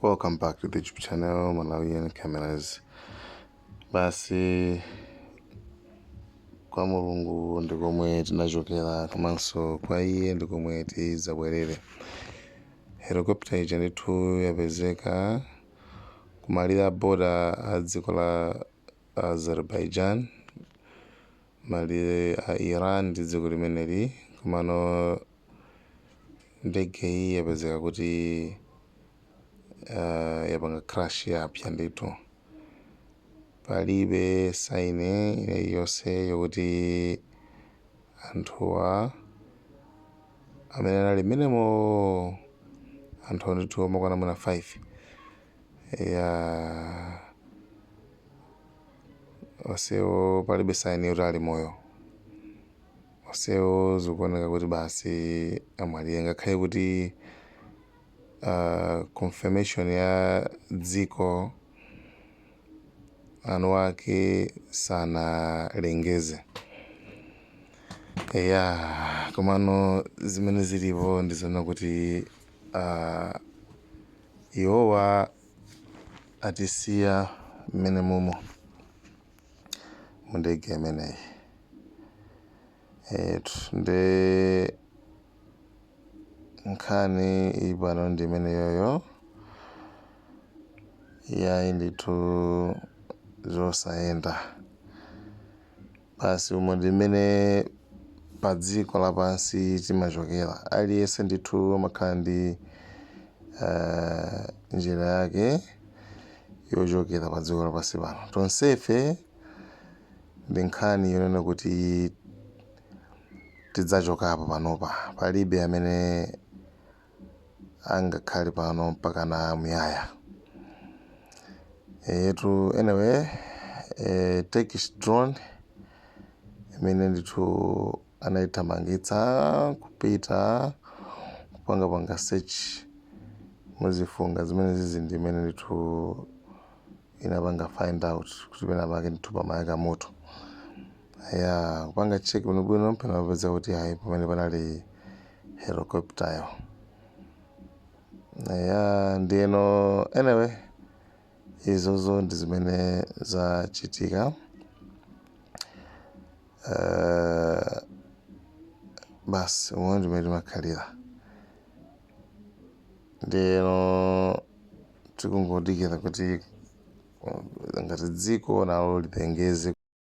welcome back to the youtube channel malawian cameras basi kwa mulungu ndi komwe tinachokera komanso kwa iye ndi komwe tidzabwerere helicopter ija ndithu yapezeka kumalire a boda a dziko la azerbaijan malire a Iran ndi dziko limeneli komano ndegeyi yapezeka kuti uh, yapanga crash yapsya ndithu palibe saini iliyonse yokuti anthuwa amene anali mmenemo anthu ndithu omakwana mwina 5 Eyaaa onsewo palibe sign yoti ali moyo onsewo zikuoneka kuti basi amwalira ngakhale kuti aah confirmation ya dziko anu ake sanalengeze eyaa komano zimene zilipo ndizonena kuti. Iwowa atisiya mmene mumo mundege imeneyi etu nde nkhani ili pano ndi imene yoyo yayi ndithu zosayenda Basi umo ndi mmene padziko lapansi timachokera. Aliyense ndithu amakhala ndi njira yake yochokera padziko lapansi pano. Tonsefe ndi nkhani yonena kuti tidzachokapo panopa. Palibe amene angakhale pano mpakana muyaya. Eyetu anyway, eh, Turkish drone imene ndithu anayithamangitsa kupita kupangapanga search muzifunga zimene zizi ndi imene ndithu inapanga find out kuti penapake ndithu pamayaka moto. Eya, kupanga check bwino bwino mpomwe anapeza kuti ayi pamene panali helicopter yo. Eya, ndiyeno anyway izozo ndi zimene zachitika. Eh, basi umo ndi mmene timakhalira. Ndiyeno tikungodikira kuti uh, ngati dziko nalo lilengeze